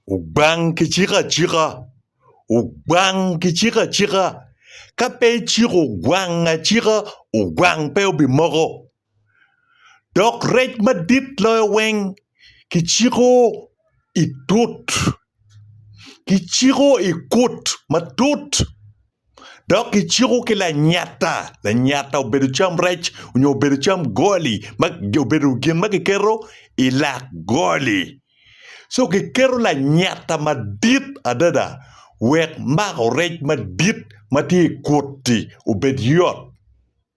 Ogwang kiciko acika. Ogwang kiciko acika. Ka pe iciko ogwang acika, ogwang pe obimoko. Dok rec madit loyo weng kiciko i tut. Kiciko i kut matut. Dok kiciko ki lanyata. Lanyata obedo cam rec onyo obedo cam goli ma obedo gin ma kiketo i lak goli. Co kiketo lanyata madit adada wek mako rec madit ma tye i kut-ti obed yot.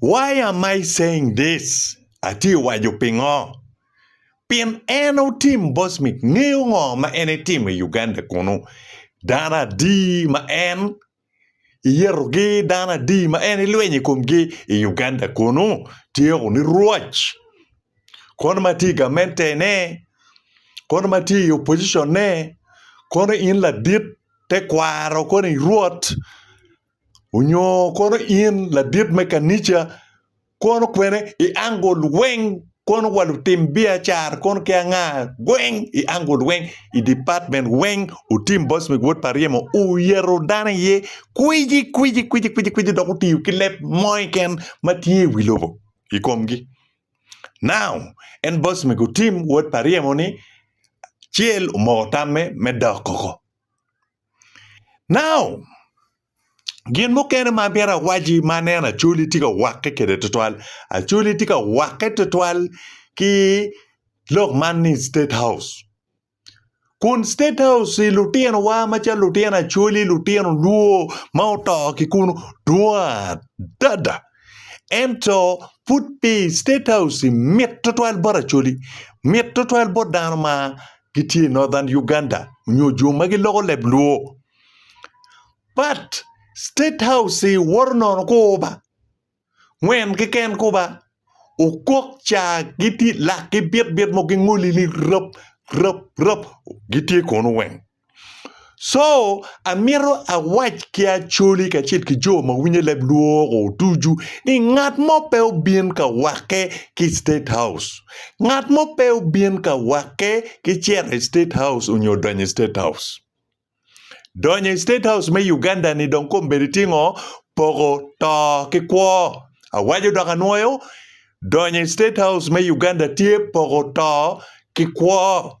Why am I saying this? Atye ka waco pingo? Pien en otim Bosmik ngeyo ngo ma en etimo i Uganda kunu. Dano adi ma en iyetogi, dano adi ma en ilwenyo i komgi i Uganda kunu? Tyeko ni rwoc. Kono ma tye i gamente ne, kono ma tye i opposition ne, kono in ladit tekwaro koni rwot Onyo kono in ladit me kanica, kono kwene i ango lweny kono wa lutim biacara kono ki anga weng i ango lweny i department weng otim boss me wod pa ryemo oyeto dano iye kwiji kwiji kwiji kwiji kwiji dok otiyo ki leb mo keken ma tye i wi lobo i komgi. Now en boss mego otim wod pa ryemo ni acel omoko tamme me dok koko. Now, gin mukene ma abino awaci ma aneno Acholi tye ka wakke kwede tutwal, Acholi tye ka wakke tutwal ki lok man ni State House. Kun State House i lutinowa macalo lutino Acholi, lutino Luo ma oto ki kunu dwong adada. Ento, pud pi State House-ci mit tutwal bot Acholi, mit tutwal bot dano ma gitye i Northern Uganda nyo jo ma giloko leb Luo. But, State House-ci woto nono kuba, ngwen keken kuba, okok ca gitye, lakgi bit bit mo gingoli ni rap, rap, rap, gitye kono weng. So amito awac ki Acholi kacel ki jo ma winyo leb lwok-ko ducu ni ngat mo pe obin ka wakke ki i State House. Ngat mo pe obin ka wakke ki cito i State House nyo donyo i State House. Donyo i State House me Uganda-ni dong kong bedo tye ngo? Poko to ki kwo. Awaco dok anwoyo, donyo i State House me Uganda tye poko to ki kwo.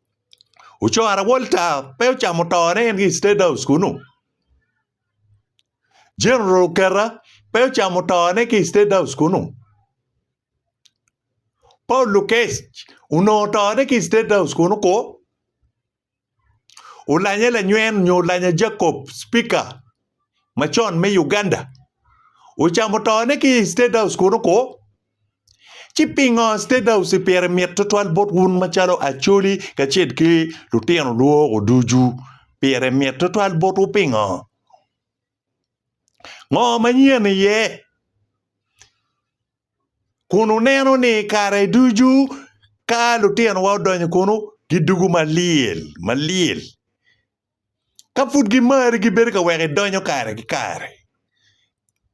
Ocora Walter pe ocamo tone en ki i State House kunu. General Oketa pe ocamo tone ki i State House kunu. Paul Lukec onongo tone ki i State House kunu ko. Olanya Lanywen nyo Olanya Jacob, Speaker macon me Uganda, ocamo tone ki i State House kunu ko. Ci pingo State House pire mit tutwal bot wun macalo Acholi kacel ki lutino lworo ducu? Pire mit tutwal botwu pingo? Ngo manyen iye? Kun wuneno ni kare ducu ka lutinowa odonyo kunu, gidwogo malyel malyel. Ka pud gimari, gibedo ka weko idonyo kare ki kare.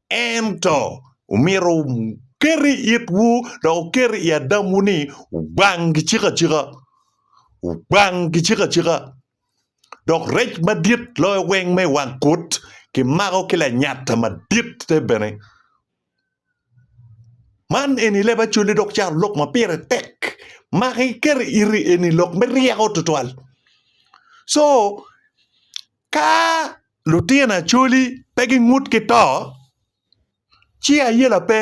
Ento omyero wuket i itwu dok wuket i adamwu ni wubang gicik acika. Wubang gicik acika. Dok rec madit loyo weng me i wang kut kimako ki lanyatta madit-te bene. Man eni leb Acholi dok cato lok ma pire tek ma kiketo i ite eni lok me ryeko tutwal co ka lutino Acholi pe gingut ki to ci ayela pe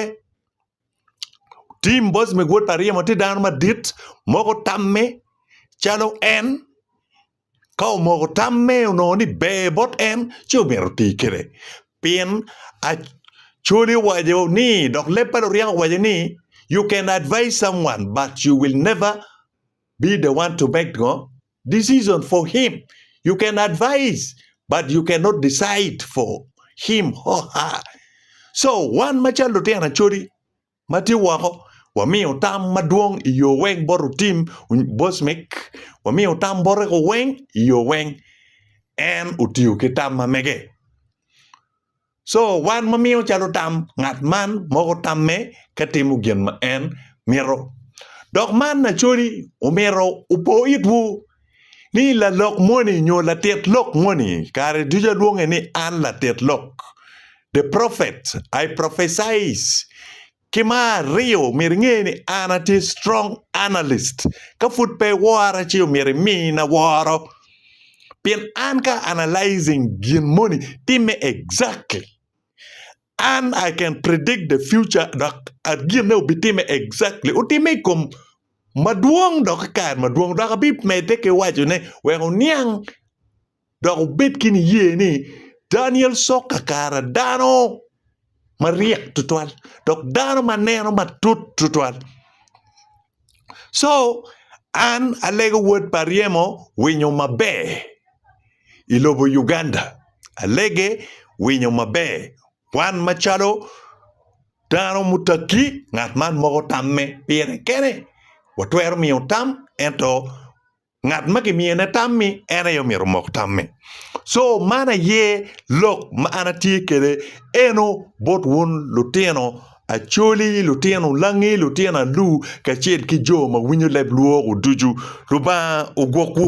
Tim Bosmik wod pa Aryemo tye dano madit ma gutamme calo en. Ka omoko tamme onongo ni ber bot en, ci omyero oti kwede. Pien Acholi owaco ni, dok leb pa Luryak owaco ni, You can advise someone but you will never be the one to make ngo decision for him. You can advise but you cannot decide for him or her. So wan macalo lutino Acholi, ma tye woko. Wamiyo tam madwong i yo weng bot otim Bosmik. Wamiyo tam bote ko weng i yo weng. En otiyo ki tam ma mege. Co wan ma miyo calo tam ngat man moko tamme ka timo gin ma en mito. Dok man acoli omito opo itwu ni lalok moni nyo latit lok moni, kare ducu alwonge ni an latit lok, the prophet, I prophesies. Ki ma aryo, myero inge ni an atye strong analyst. Ka pud pe iwora ci omyero imina woro. Pien an ka analyzing gin moni, timme exactly. An I can predict the future dok ginne obitime exactly otime I kom madwong dok I kare madwong dok abi mede ki wacone wek oniang dok obed ki niye ni Daniel Sok kakara dano maryek tutwal dok dano maneno matut tutwal. Co an alego wod pa ryemo winyo maber i lobo Uganda alege winyo maber wan macalo dano mutagi ngat man moko tamme pire kene watwero miyo tam ento Ngat ma gimiyo ne tammi en aye omyero omok tammi. So man aye lok ma an atye kwede eno bot wun lutino Acholi, lutino Olangi, lutino Alur kacel ki jo ma winyo leb lwok-gu ducu. Lubanga ogwokwu.